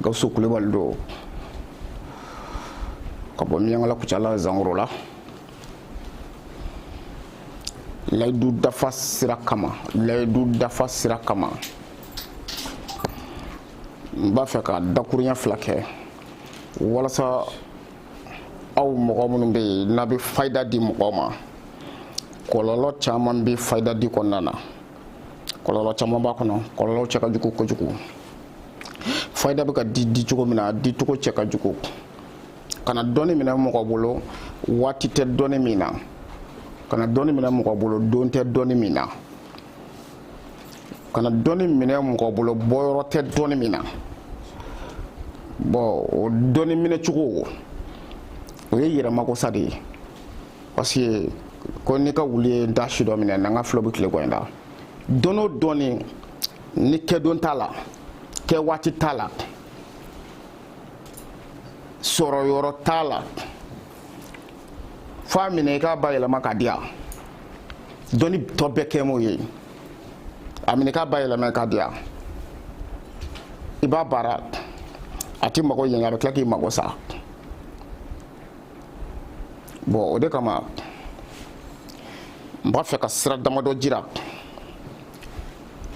gawusu kulubali don ka bɔ minyankala kucala zangorola layidu dafa sira kama n b'a fɛ ka dakuruɲɛ fila kɛ walasa aw mɔgɔ minnu bɛ yen n'a bɛ fayida di mɔgɔ ma kɔlɔlɔ caman bɛ fayida di kɔnɔna na kɔlɔlɔ caman b'a kɔnɔ kɔlɔlɔw cɛ ka jugu kojugu fayida bɛ ka di di cogo min na a di cogo cɛ ka jugu kana dɔnni minɛ mɔgɔ bolo waati tɛ dɔnni min na kana dɔnni minɛ mɔgɔ bolo don tɛ dɔnni min na kana dɔnni minɛ mɔgɔ bolo bɔyɔrɔ tɛ dɔnni min na bon o dɔnni minɛ cogo o ye yɛrɛmagosa de ye parce que ko n'i ka wuli ye da si dɔ minɛ n'an ka filɛ bɛ tile kɔ in da dɔnni o dɔnni ni kɛdon t'a la kɛ waati t'a la sɔrɔ yɔrɔ t'a la fo a minɛ i k'a bayɛlɛma ka di a dɔnni tɔ bɛɛ kɛ m'o ye a minɛ i k'a bayɛlɛma ka di a i b'a baara a t'i mago ɲɛ a bɛ tila k'i mago sa bon o de kama n b'a fɛ ka sira damadɔ jira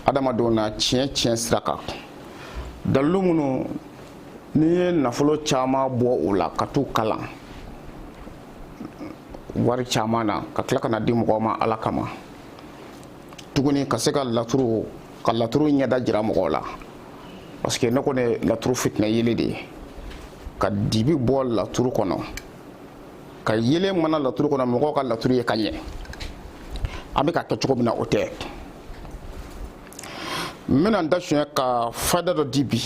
adamadenw na tiɲɛ tiɲɛ sira kan dalilu minnu ne ye nafolo caman bɔ u la ka t'u kalan wari caman na ka tila ka n'a di mɔgɔw ma ala kama tuguni ka se ka laturu ka laturu ɲɛda jira mɔgɔw la parce que ne kɔni laturu fitinɛ yeelen de ye ka dibi bɔ laturu kɔnɔ ka yeelen mana laturu kɔnɔ mɔgɔw ka laturu ye ka ɲɛ a bɛ ka kɛ cogo min na o tɛ n bɛna n da sonya ka fayida dɔ di bi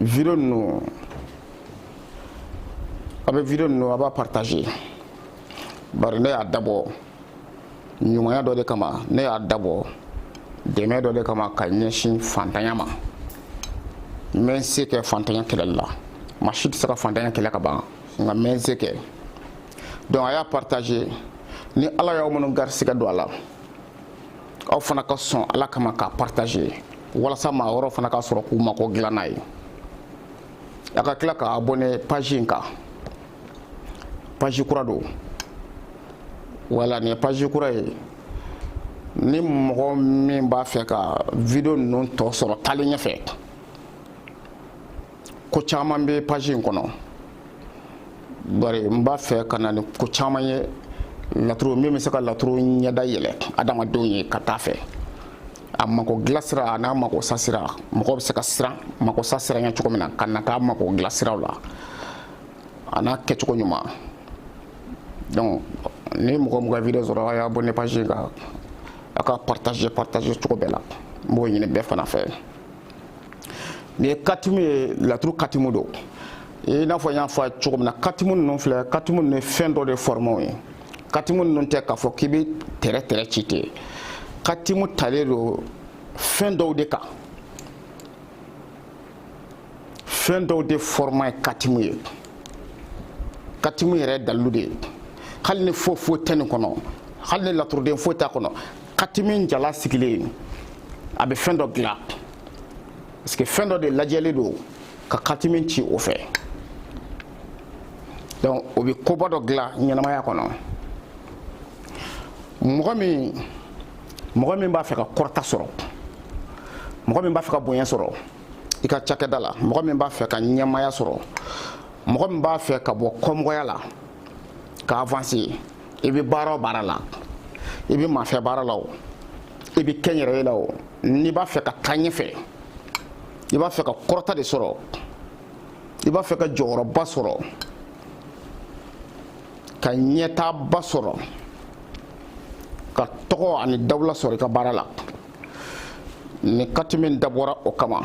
video ninnu a bɛ video ninnu a b'a partager bari ne y'a dabɔ ɲumanya dɔ de kama ne y'a dabɔ dɛmɛ dɔ de kama ka ɲɛsin fantanya ma n bɛ n se kɛ fantanya kɛlɛli la maa si tɛ se ka fantanya kɛlɛ ka ban nka n bɛ n se kɛ donc a y'a partager ni ala y'aw minnu garisigɛ don a la aw fana ka sɔn ala kama k'a partager walasa maa wɛrɛw fana ka sɔrɔ k'u mako dilan n'a ye a ka tila ka abonné page in kan page kura don wala nin ye page kura ye ni mɔgɔ min b'a fɛ ka video ninnu tɔ sɔrɔ taalen ɲɛfɛ ko caman bɛ page in kɔnɔ bari n b'a fɛ ka na ni ko caman ye laturu min bɛ se ka laturu ɲɛda yɛlɛ adamadenw ye ka taa fɛ a mako dilansira a n'a mako sasira mɔgɔ bɛ se ka siran mako sasira ɲɛ cogo min na ka na k'a mako dilansiraw la a n'a kɛcogo ɲuman donc ni mɔgɔ o mɔgɔ video sɔrɔ a y'abonner page in kan a k'a partager partager cogo bɛɛ la n b'o ɲini bɛɛ fana fɛ nin ye katimu ye laturu katimu don i n'a fɔ n y'a fɔ cogo min na katimu ninnu filɛ katimu ninnu ye fɛn dɔw de fɔrɔmaw ye katimu ninnu tɛ k'a fɔ k'i bɛ tɛrɛ tɛrɛ ci ten katimu talen don fɛn dɔw de kan fɛn dɔw de fɔrɔma ye katimu ye katimu yɛrɛ dalilu de ye hali ni foyi foyi tɛ nin kɔnɔ hali ni laturuden foyi t'a kɔnɔ katimu jalan sigilen a bɛ fɛn dɔ dilan parce que fɛn dɔ de lajɛlen don ka katimu ci o fɛ donc o bɛ koba dɔ dilan ɲɛnamaya kɔnɔ mɔgɔ min mɔgɔ min b'a fɛ ka kɔrɔta sɔrɔ mɔgɔ min b'a fɛ ka bonya sɔrɔ i ka cakɛda la mɔgɔ min b'a fɛ ka ɲɛmaaya sɔrɔ mɔgɔ min b'a fɛ ka bɔ kɔmɔgɔya la ka avancer i bɛ baara o baara la i bɛ maafɛ baara la wo i bɛ kɛnyɛrɛye la wo n'i b'a fɛ ka taa ɲɛfɛ i b'a fɛ ka kɔrɔta de sɔrɔ i b'a fɛ ka jɔyɔrɔba sɔrɔ ka ɲɛtaaba sɔrɔ ka tɔgɔ ani dawula sɔrɔ i ka baara la nin katimu in dabɔra o kama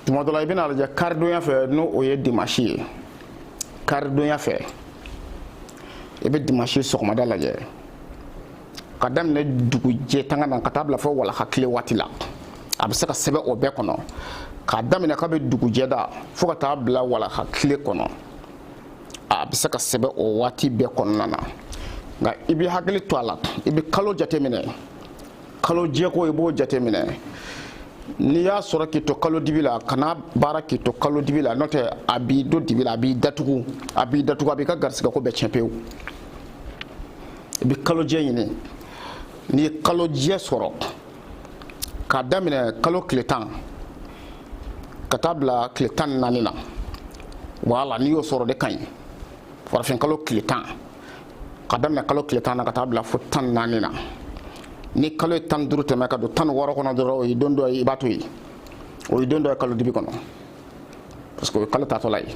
tuma dɔ la i bɛn'a lajɛ karidonya fɛ n'o ye dimasi ye karidonya fɛ i bɛ dimasi sɔgɔmada lajɛ k'a daminɛ dugujɛ tanga na ka taa bila fo walaha tile waati la a bɛ se ka sɛbɛn o bɛɛ kɔnɔ k'a daminɛ kabi dugujɛda fo ka taa bila walaha tile kɔnɔ a bɛ se ka sɛbɛn o waati bɛɛ kɔnɔna na nka i b'i hakili to a la i bɛ kalo jateminɛ kalo jɛko i b'o jateminɛ n'i y'a sɔrɔ k'i to kalo dibi la kan'a baara k'i to kalo dibi la n'o tɛ a b'i don dibi la a b'i datugu a b'i datugu a b'i ka garisigɛko bɛɛ tiɲɛ pewu i bɛ kalojɛ ɲini n'i ye kalojɛ sɔrɔ k'a daminɛ kalo tile tan ka taa bila tile tan ni naani na wala n'i y'o sɔrɔ de ka ɲi farafin kalo tile tan ka daminɛ kalo tile tan na ka taa bila fo tan ni naani na ni kalo ye tan ni duuru tɛmɛ ka don tan ni wɔɔrɔ kɔnɔ dɔrɔn o ye don dɔ ye i b'a to yen o ye don dɔ ye kalo dibi kɔnɔ parce que o ye kalo taatɔla ye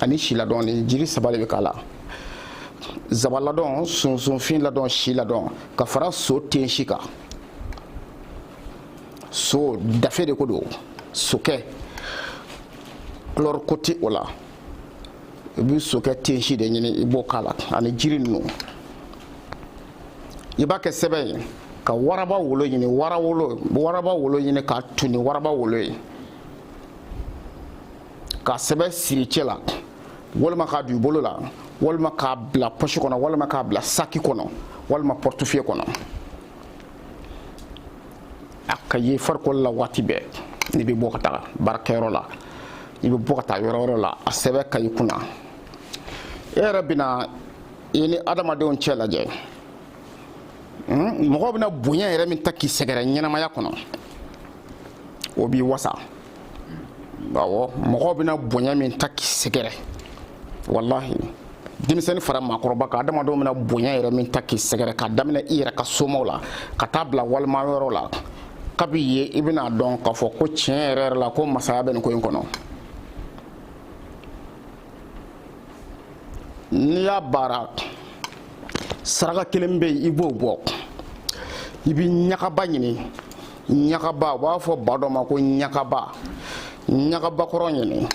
ani si ladɔn nin jiri saba de bɛ k'a la zaba ladɔn sunsunfin ladɔn si ladɔn ka fara so tensi kan so dafe de ko don sokɛ kulɔri ko tɛ o la i bɛ sokɛ tensi de ɲini i b'o k'a la ani jiri ninnu i b'a kɛ sɛbɛn ye ka waraba wolo ɲini waraba wolo ɲini k'a tun ni waraba wolo ye ka sɛbɛn siri cɛ la walima k'a don i bolo la walima k'a bila pɔsi kɔnɔ walima k'a bila saki kɔnɔ walima portefeuille kɔnɔ a ka ye farikolo la waati bɛɛ n'i bɛ bɔ ka taa baarakɛyɔrɔ la i bɛ bɔ ka taa yɔrɔ wɛrɛ la a sɛbɛn ka i kunna e yɛrɛ bɛna i ni adamadenw cɛ lajɛ mɔgɔ bɛna bonya yɛrɛ min ta k'i sɛgɛrɛ ɲɛnamaya kɔnɔ o b'i wasa awɔ mɔgɔ bɛna bonya min ta k'i sɛgɛrɛ walahi denmisɛnnin fara maakɔrɔba kan adamadenw bɛna bonya yɛrɛ min ta k'i sɛgɛrɛ k'a daminɛ i yɛrɛ ka somaw la ka taa bila wali maa wɛrɛw la kabi ye i bɛna dɔn k'a fɔ ko tiɲɛ yɛrɛ yɛrɛ la ko masaya bɛ nin ko in kɔnɔ n'i y'a baara saraka kelen bɛ yen i b'o bɔ i bɛ ɲagaba ɲini ɲagaba u b'a fɔ ba dɔ ma ko ɲagaba ɲagaba kɔrɔ ɲini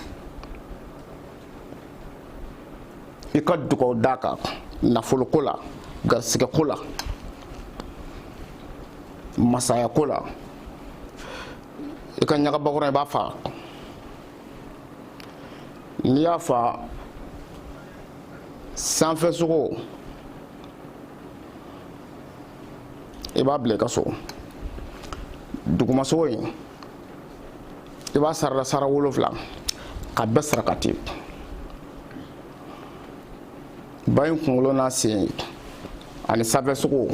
i ka dugaw d'a kan nafoloko la garisigɛko la masayako la i ka ɲagaba kɔrɔ i b'a faa n'i y'a faa sanfɛ sogo i b'a bila i ka so dugumasogo in i b'a sara da sara wolonfila ka bɛɛ sarakati ba in kunkolo n'a sen ani sanfɛ sogo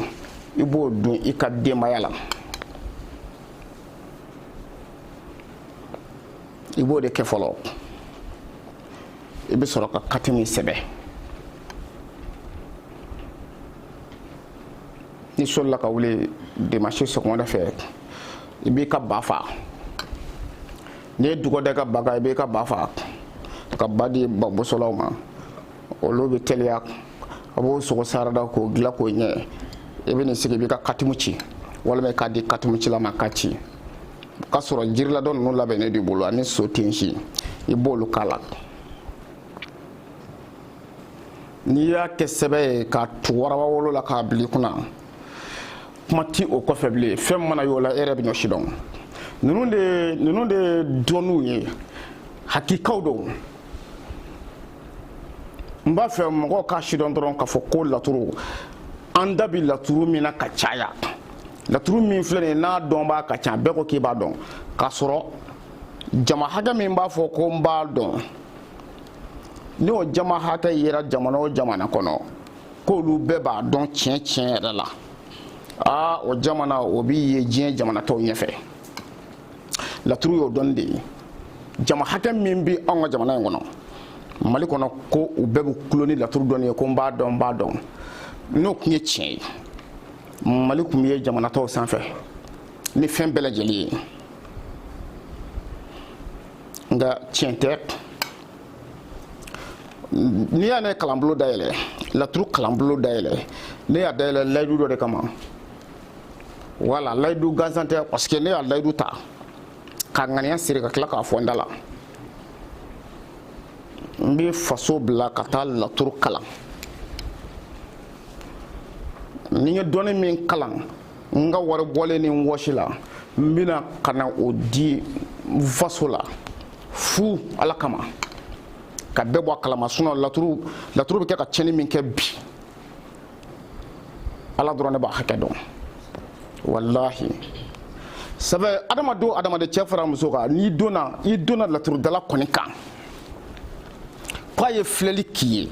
i b'o dun i ka denbaya la i b'o de kɛ fɔlɔ i bɛ sɔrɔ ka katimi sɛbɛn n'i solila ka wuli dimasi sɔgɔmada fɛ i b'i ka ba fa n'i ye dugɔ da i ka ba kan i b'i ka ba fa ka ba di babosolaw ma olu bɛ teliya a b'o sogo sara da k'o dilan k'o ɲɛ i bɛ n'i sigi i b'i ka katimu ci walima i k'a di katimu cila ma k'a ci k'a sɔrɔ jiriladɔ ninnu labɛnnen d'i bolo ani so tensi i b'olu k'a la n'i y'a kɛ sɛbɛn ye k'a tu waraba wolo la k'a bil'i kunna kuma ti o kɔfɛ bilen fɛn mana y'o la e yɛrɛ bɛn'o sidɔn ninnu de ninnu de dɔnniw ye hakikaw don n b'a fɛ mɔgɔw k'a sidɔn dɔrɔn k'a fɔ ko laturu an da bi laturu min na ka caya laturu min filɛ nin ye n'a dɔnbaa ka ca bɛɛ ko k'i b'a dɔn k'a sɔrɔ jama hakɛ min b'a fɔ ko n b'a dɔn ni o jama hakɛ yera jamana o jamana kɔnɔ k'olu bɛɛ b'a dɔn tiɲɛ tiɲɛ yɛrɛ la aa o jamana o bi ye diɲɛ jamana tɔw ɲɛfɛ laturu y'o dɔnni de ye jama hakɛ min bi anw ka jamana in kɔnɔ mali kɔnɔ ko u bɛɛ bɛ kulo ni laturu dɔnni ye ko n b'a dɔn n b'a dɔn n'o tun ye tiɲɛ ye mali tun bɛ ye jamana tɔw sanfɛ ni fɛn bɛɛ lajɛlen ye nka tiɲɛ tɛ n'i y'a ne kalanbolo dayɛlɛ laturu kalanbolo dayɛlɛ ne y'a dayɛlɛ layidu dɔ de kama wala layidu gansan tɛ parce que ne y'a layidu ta ka ŋaniya siri ka tila k'a fɔ n da la n bɛ faso bila ka taa laturu kalan ni n ye dɔnni min kalan n ka wari bɔlen ni n wɔsi la n bɛna ka na o di faso la fu ala kama ka bɛɛ bɔ a kalama sinon laturu laturu bɛ kɛ ka tiɲɛni min kɛ bi ala dɔrɔn de b'a hakɛ dɔn walahi sabu adamaden o adamaden cɛ fara muso kan n'i donna i donna laturudala kɔni kan k'a ye filɛli k'i ye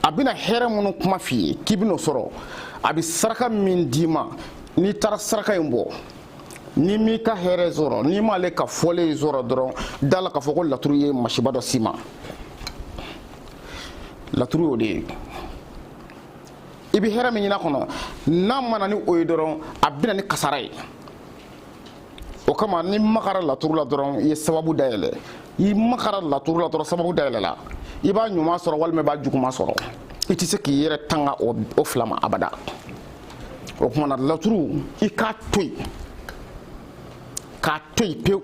a bɛna hɛrɛ minnu kuma f'i ye k'i bɛn'o sɔrɔ a bɛ saraka min d'i ma n'i taara saraka in bɔ n'i m'i ka hɛrɛ sɔrɔ n'i m'ale ka fɔlen sɔrɔ dɔrɔn da la k'a fɔ ko laturu ye masiba dɔ s'i ma laturu y'o de ye i bɛ hɛrɛ min ɲini a kɔnɔ n'a ma na ni o ye dɔrɔn a bɛna ni kasara ye o kama n'i magara laturu la dɔrɔn i ye sababu dayɛlɛ i magara laturu la dɔrɔn sababu dayɛlɛla i b'a ɲuman sɔrɔ walima i b'a juguman sɔrɔ i tɛ se k'i yɛrɛ tanga o fila ma abada o tuma na laturu i k'a to yen k'a to yen pewu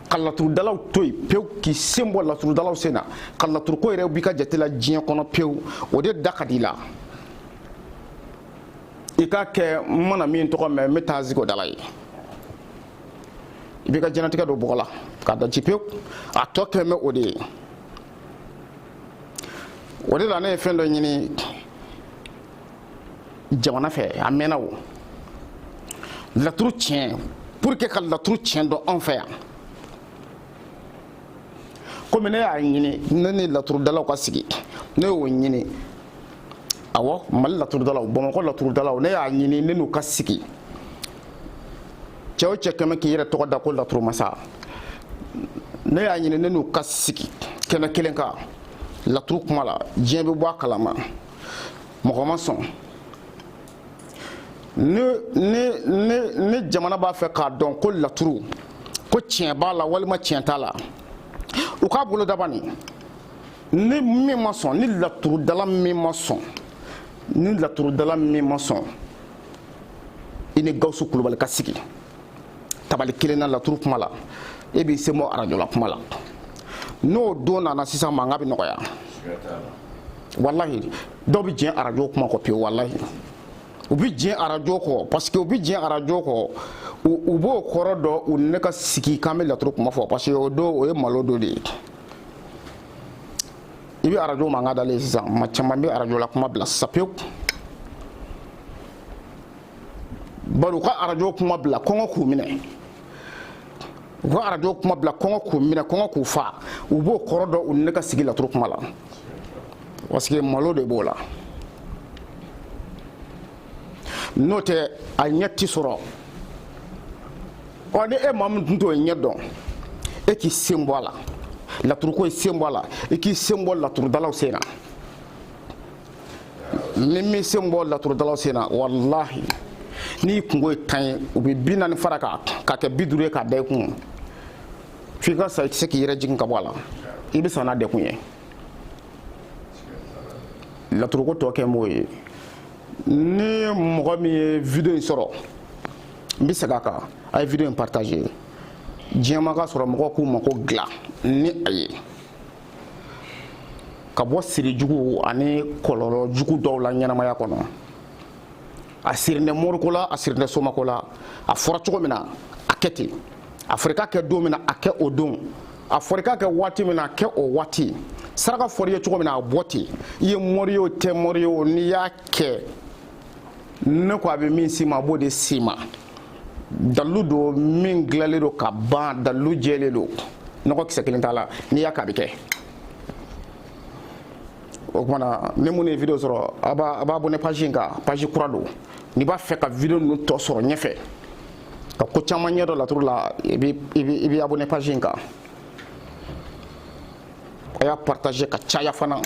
ka laturudalaw to yen pewu k'i sen bɔ laturudalaw sen na ka laturuko yɛrɛ b'i ka jate la diɲɛ kɔnɔ pewu o de da ka di i la i k'a kɛ n mana min tɔgɔ mɛn n bɛ taa sigi o da la yen i b'i ka diɲɛlatigɛ don bɔgɔ la k'a da ci pewu a tɔ kɛlen bɛ o de ye o de la ne ye fɛn dɔ ɲini jamana fɛ a mɛnna o laturu tiɲɛ pour que ka laturu tiɲɛ dɔn anw fɛ yan komi ne y'a ɲini ne ni laturudalaw ka sigi ne y'o ɲini awɔ mali laturudalaw bamakɔ laturudalaw ne y'a ɲini ne n'u ka sigi cɛ o cɛ kɛlen bɛ k'i yɛrɛ tɔgɔ da ko laturumasa ne y'a ɲini ne n'u ka sigi kɛnɛ kelen kan laturu kuma la diɲɛ bɛ bɔ a kalama mɔgɔ ma sɔn ni ni ni ni jamana b'a fɛ k'a dɔn ko laturu ko tiɲɛ b'a la walima tiɲɛ t'a la u k'a boloda bani ni min ma sɔn ni laturudala min ma sɔn ni laturudala min ma sɔn i ni gawusu kulubali ka sigi tabali kelen na laturu kuma la e b'i sen bɔ arajola kuma la n'o don nana sisan mankan bɛ nɔgɔya walahi dɔw bɛ diɲɛ arajo kuma kɔ pewu walahi u bɛ diɲɛ arajo kɔ parce que u bɛ diɲɛ arajo kɔ u b'o kɔrɔ dɔn u ni ne ka sigi k'an bɛ laturu kuma fɔ parce que o don o ye malo don de ye i bɛ arajo mankan dalen sisan maa caman bɛ arajola kuma bila sisan pewu bari u ka arajo kuma bila kɔngɔ k'u minɛ u ka arajo kuma bila kɔngɔ k'u minɛ kɔngɔ k'u fa u b'o kɔrɔ dɔn u ni ne ka sigi laturu kuma la parce que malo de b'o la n'o tɛ a ɲɛ ti sɔrɔ ɔ ni e maa min tun t'o ɲɛ dɔn e k'i sen bɔ a la laturuko i sen bɔ a la i k'i sen bɔ laturudalaw sen na n'i m'i sen bɔ laturudalaw sen na walahi n'i kunko ye tan ye u bɛ bi naani fara a kan k'a kɛ bi duuru ye k'a da i kun f'i ka sa i tɛ se k'i yɛrɛ jigin ka bɔ a la i bɛ sa n'a dɛgun ye laturuko tɔ kɛlen b'o ye ni mɔgɔ min ye video in sɔrɔ n bɛ segin a kan a ye video in partager diɲɛ maa k'a sɔrɔ mɔgɔw k'u mako dilan ni a ye. ka bɔ siri jugu ani kɔlɔlɔ jugu dɔw la ɲɛnamaya kɔnɔ a sirinen moriko la a sirinen somako la a fɔra cogo min na a kɛ ten a fɔra i k'a kɛ don min na a kɛ o don a fɔra i k'a kɛ waati min na a kɛ o waati saraka fɔra i ye cogo min na a bɔ ten i ye mori ye o i tɛ mori ye o n'i y'a kɛ ne ko a bɛ min s'i ma a b'o de s'i ma dalilu don min dilanlen don ka ban dalilu jɛlen don nɔgɔ kisɛ kelen t'a la n'i y'a kɛ a bɛ kɛ o kuma na ni minnu ye video sɔrɔ a b'a abonné page in kan page kura don n'i b'a fɛ ka video ninnu tɔ sɔrɔ ɲɛfɛ ka ko caman ɲɛdɔn laturu la i bɛ abonné page in kan. a y'a partager ka caya fana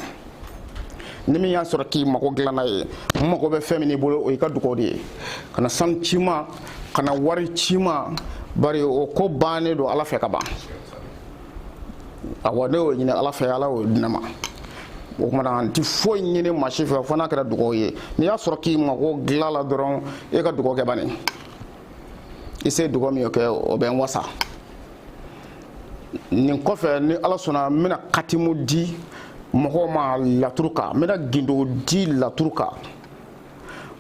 ni min y'a sɔrɔ k'i mago dilanna ye n mago bɛ fɛn min n'i bolo o y'i ka dugaw de ye kana sanu ci n ma kana wari ci n ma bari o ko bannen don ala fɛ ka ban awa ne y'o ɲini ala fɛ ala y'o di ne ma o kuma na n ti foyi ɲini maa si fɛ fo n'a kɛra dugaw ye n'i y'a sɔrɔ k'i mago dilanna dɔrɔn e ka dugaw kɛ bani i se dugaw min kɛ o bɛ n wasa nin kɔfɛ ni ala sɔnna n bɛna katimu di mɔgɔw ma laturu kan n bɛna gindo di laturu kan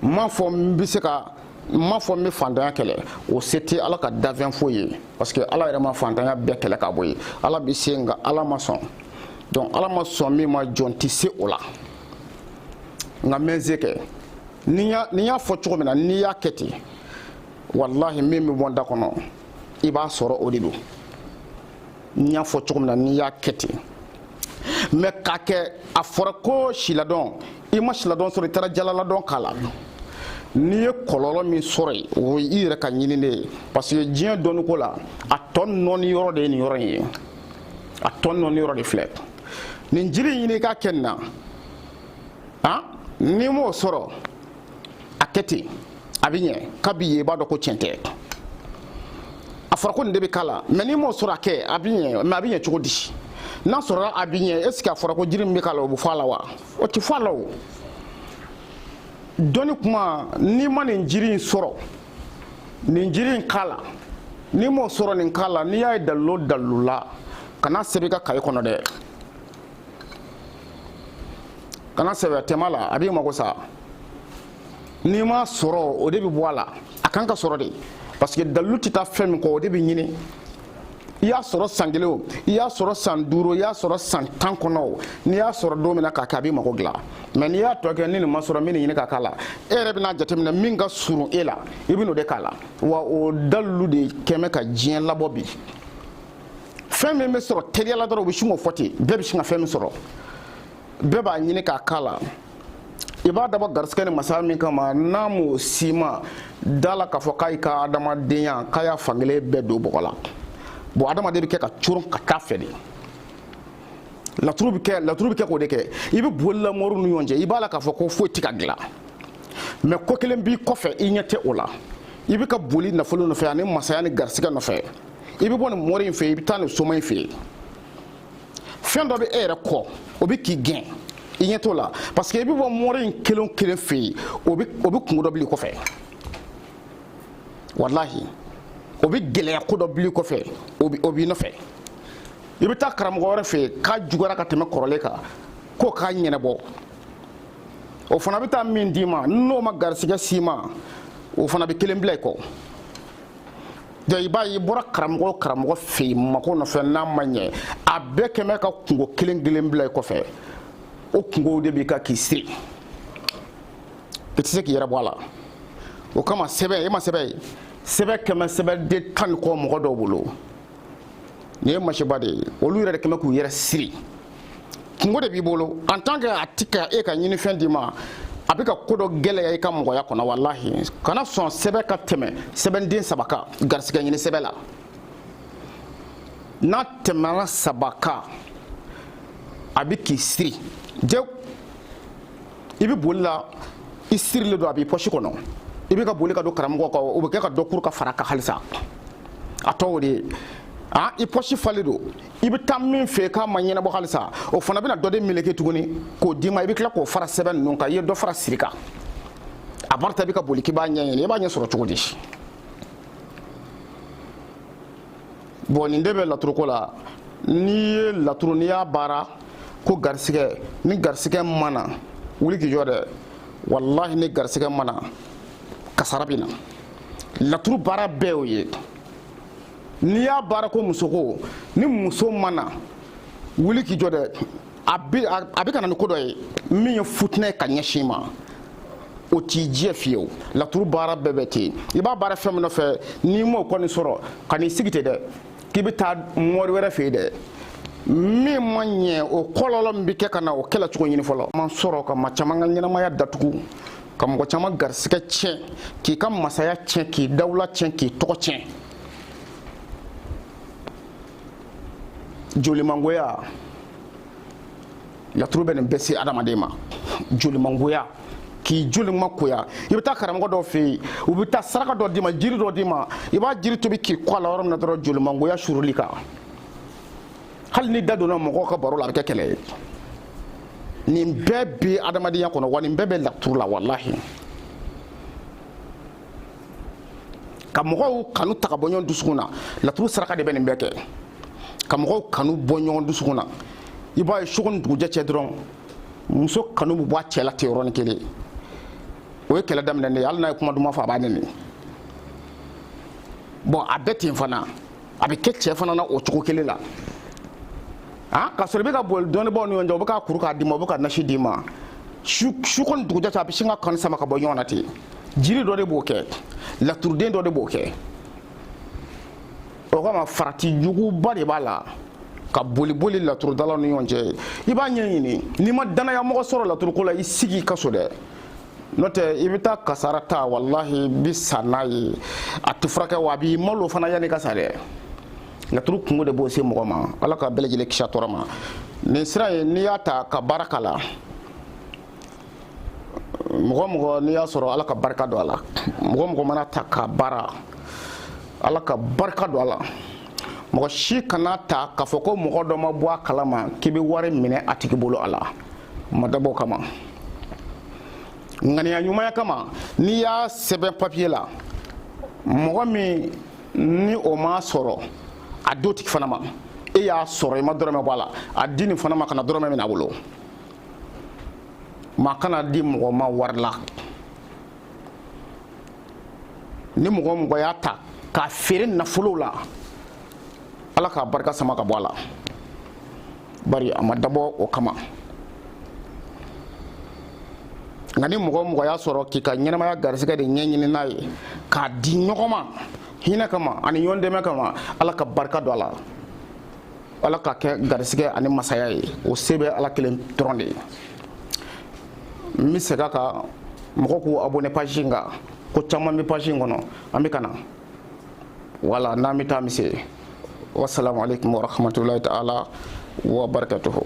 n m'a fɔ n bɛ se ka n m'a fɔ n bɛ fantanya kɛlɛ o se tɛ ala ka dafɛn foyi ye parce que ala yɛrɛ ma fantanya bɛɛ kɛlɛ ka bɔ yen ala bɛ se nka ala ma sɔn donc ala ma sɔn min ma jɔn tɛ se o la nka n bɛ n se kɛ ni n y'a fɔ cogo min na n'i y'a kɛ ten walahi min bɛ bɔ n da kɔnɔ i b'a sɔrɔ o de don n y'a fɔ cogo min na n'i y'a kɛ ten mais k'a kɛ a fɔra ko siladɔn i ma siladɔn sɔrɔ i taara jalaladɔn k'a la n'i ye kɔlɔlɔ min sɔrɔ yen o ye i yɛrɛ ka ɲini de ye parce que diɲɛ dɔnniko la a tɔɔ nɔɔni yɔrɔ de ye nin yɔrɔ in ye a tɔɔ nɔɔni yɔrɔ de filɛ nin jiri ɲini k'a kɛ nin na han n'i m'o sɔrɔ a kɛ ten a bɛ ɲɛ kabi yen i b'a dɔn ko tiɲɛ tɛ a fɔra ko nin de bɛ k'a la mais n'i m'o sɔrɔ a kɛ a bɛ ɲɛ mais a bɛ ɲɛ cogo di n'a sɔrɔla a bɛ ɲɛ est-ce que a fɔra ko jiri min bɛ k'a la o bɛ fɔ a la wa o tɛ fɔ a la o dɔnni kuma n'i ma nin jiri in sɔrɔ nin jiri in k'a la n'i m'o sɔrɔ nin k'a la n'i y'a ye dalilu o dalilu la kan'a sɛbɛn i ka kaye kɔnɔ dɛ kan'a sɛbɛn tɛmɛ a la a b'i mago sa n'i m'a sɔrɔ o de bɛ bɔ a la a kan ka sɔrɔ de parce que dalilu tɛ taa fɛn min kɔ o de bɛ ɲini i y'a sɔrɔ san kelen o i y'a sɔrɔ san duuru i y'a sɔrɔ san tan kɔnɔ o n'i y'a sɔrɔ don min na k'a kɛ a b'i mago dilan mais n'i y'a tɔ kɛ ni nin ma sɔrɔ n bɛ nin ɲini k'a k'a la e yɛrɛ bɛna jateminɛ min ka surun e la i bɛn'o de k'a la wa o dalilu de kɛmɛ ka diɲɛ labɔ bi fɛn min bɛ sɔrɔ teliya la dɔrɔn u bɛ sin k'o fɔ ten bɛɛ bɛ sin ka fɛn min sɔrɔ bɛɛ b'a ɲini k'a k'a la i b'a dabɔ garisigɛ ni masaya min kama n'a m'o si ma da la k'a fɔ k'a y'i ka adamadenya k'a y'a fankelen bɛɛ don bɔgɔ la bon adamaden bɛ kɛ ka coron ka taa fɛ de laturu bɛ kɛ laturu bɛ kɛ k'o de kɛ i bɛ boli la moriw ni ɲɔgɔn cɛ i b'a la k'a fɔ ko foyi tɛ ka dilan mais ko kelen b'i kɔfɛ i ɲɛ tɛ o la i bɛ ka boli nafolo nɔfɛ ani masaya ni garisigɛ nɔfɛ i bɛ bɔ nin mori in fɛ i bɛ taa nin soma in fɛ yen fɛn dɔ bɛ e yɛrɛ kɔ o bɛ k'i gɛn i ɲɛ t'o la parce que i bɛ bɔ mori in kelen o kelen fɛ yen o bɛ o bɛ kungo dɔ bil'i kɔfɛ walahi o bɛ gɛlɛya ko dɔ bil'i kɔfɛ o bɛ o b'i nɔfɛ i bɛ taa karamɔgɔ wɛrɛ fɛ yen k'a juguyara ka tɛmɛ kɔrɔlen kan k'o k'a ɲɛnabɔ o fana bɛ taa min d'i ma n'o ma garisigɛ s'i ma o fana bɛ kelen bila i kɔ. i b'a ye i bɔra karamɔgɔ o karamɔgɔ fɛ yen mako nɔfɛ n'a ma ɲɛ a bɛɛ kɛmɛ ka kungo kelen kelen bila i kɔfɛ o kungow de bɛ ka k'i siri i tɛ se k'i yɛrɛ bɔ a la o kama sɛbɛn e ma sɛbɛn ye sɛbɛn kɛmɛ sɛbɛnden tan ni kɔ mɔgɔ dɔw bolo nin ye masiba de ye olu yɛrɛ de kɛmɛ k'u yɛrɛ siri kungo de b'i bolo en tant que a ti ka e ka ɲinifɛn d'i ma a bɛ ka ko dɔ gɛlɛya i ka mɔgɔya kɔnɔ walahi kana sɔn sɛbɛn ka tɛmɛ sɛbɛnden saba kan garisigɛ ɲini sɛbɛn la n'a tɛmɛna saba kan a bɛ k'i siri jew i bɛ boli la i sirilen don a b'i pɔsi kɔnɔ i bɛ ka boli ka don karamɔgɔ kan o bɛ kɛ ka dɔ kuru ka fara kan halisa a tɔ o de ye a i pɔsi falen don i bɛ taa min fɛ k'a ma ɲɛnabɔ halisa o fana bɛna dɔ de meleke tuguni k'o d'i ma i bɛ tila k'o fara sɛbɛn ninnu kan i ye dɔ fara siri kan a barita bɛ ka boli k'i b'a ɲɛɲini i b'a ɲɛ sɔrɔ cogo di bon nin de bɛ laturoko la n'i ye laturu n'i y'a baara ko garisigɛ ni garisigɛ ma na wuli k'i jɔ dɛ walahi ni garisigɛ ma na kasara bɛ na laturu baara bɛɛ y'o ye n'i y'a baara ko musoko ni muso ma na wuli k'i jɔ dɛ a bɛ ka na ni ko dɔ ye min ye futinɛ ye ka ɲɛsin i ma o t'i jɛ fiyewu laturu baara bɛɛ bɛ ten i b'a baara fɛn min nɔfɛ n'i m'o kɔni sɔrɔ kan'i sigi ten dɛ k'i bɛ taa mori wɛrɛ fɛ yen dɛ min ma ɲɛ o kɔlɔlɔ min bɛ kɛ ka na o kɛlɛ cogo ɲini fɔlɔ man sɔrɔ ka maa caman ka ɲɛnamaya datugu ka mɔgɔ caman garisigɛ tiɲɛ k'i ka masaya tiɲɛ k'i dawula tiɲɛ k'i tɔgɔ tiɲɛ jolimangoya laturu bɛ nin bɛɛ se adamaden ma jolimangoya k'i jolimangoya i bɛ taa karamɔgɔ dɔ fɛ yen u bɛ taa saraka dɔ d'i ma jiri dɔ d'i ma i b'a jiri tobi k'i ko a la yɔrɔ min na dɔrɔn jolimangoya suurul'i kan hali n'i da donna mɔgɔw ka baro la a bɛ kɛ kɛlɛ ye nin bɛɛ bɛ adamadenya kɔnɔ wa nin bɛɛ bɛ laturu la walahi ka mɔgɔw kanu ta ka bɔ ɲɔgɔn dusukun na laturu saraka de bɛ nin bɛɛ kɛ ka mɔgɔw kanu bɔ ɲɔgɔn dusukun na i b'a ye su ko ni dugujɛ cɛ dɔrɔn muso kanu bɛ bɔ a cɛ la ten yɔrɔnin kelen o ye kɛlɛ daminɛnen ye hali n'a ye kuma duman fɔ a b'a nɛni bon a bɛ ten fana a bɛ kɛ cɛ fana na o cogo kelen na ah ka sɔrɔ i bɛ ka boli dɔnnibaaw ni ɲɔgɔn cɛ u bɛ ka kuru k'a d'i ma u bɛ ka nasi d'i ma su su ko ni dugujɛ cɛ a bɛ sin ka kanu sama ka bɔ ɲɔgɔn na ten jiri dɔ de b'o kɛ laturuden dɔ de b'o kɛ o kama farati juguba de b'a la ka boli boli laturudalaw ni ɲɔgɔn cɛ i b'a ɲɛɲini n'i ma dannayamɔgɔ sɔrɔ laturuko la i sigi i ka so dɛ n'o tɛ i bɛ taa kasara ta walahi i bɛ sa n'a ye a tɛ furakɛ wa a b'i malo fana yann'i ka sa dɛ laturu kunko de b'o se mɔgɔ ma ala ka bɛɛ lajɛlen kisi a tɔɔrɔ ma nin sira in n'i y'a ta ka baara k'a la mɔgɔ o mɔgɔ n'i y'a sɔrɔ ala ka barika don a la mɔgɔ o mɔgɔ man'a ta ka baara ala ka barika don a la mɔgɔ si kan'a ta k'a fɔ ko mɔgɔ dɔ ma bɔ a kalama k'i bɛ wari minɛ a tigi bolo a la ma dabɔ o kama ŋaniya ɲumanya kama n'i y'a sɛbɛn papiye la mɔgɔ min ni o m'a sɔrɔ a d'o tigi fana ma e y'a sɔrɔ i ma dɔrɔmɛ bɔ a la a di nin fana ma kana dɔrɔmɛ minɛ a bolo maa kan'a di mɔgɔ ma wari la ni mɔgɔ o mɔgɔ y'a ta k'a feere nafolow la ala k'a barika sama ka bɔ a la bari a ma dabɔ o kama nka ni mɔgɔ o mɔgɔ y'a sɔrɔ k'i ka ɲɛnamaya garisɛgɛ de ɲɛɲini n'a ye k'a di ɲɔgɔn ma hinɛ kama ani ɲɔgɔn dɛmɛ kama ala ka barika don a la ala k'a kɛ garisɛgɛ ani masaya ye o se bɛ ala kelen dɔrɔn de ye n bɛ segin a kan mɔgɔw k'u abonné page in kan ko caman bɛ page in kɔnɔ an bɛ ka na voilà n'an bɛ taa an bɛ se wasalamu aleykum warahmatulahi taala wabarakatuhu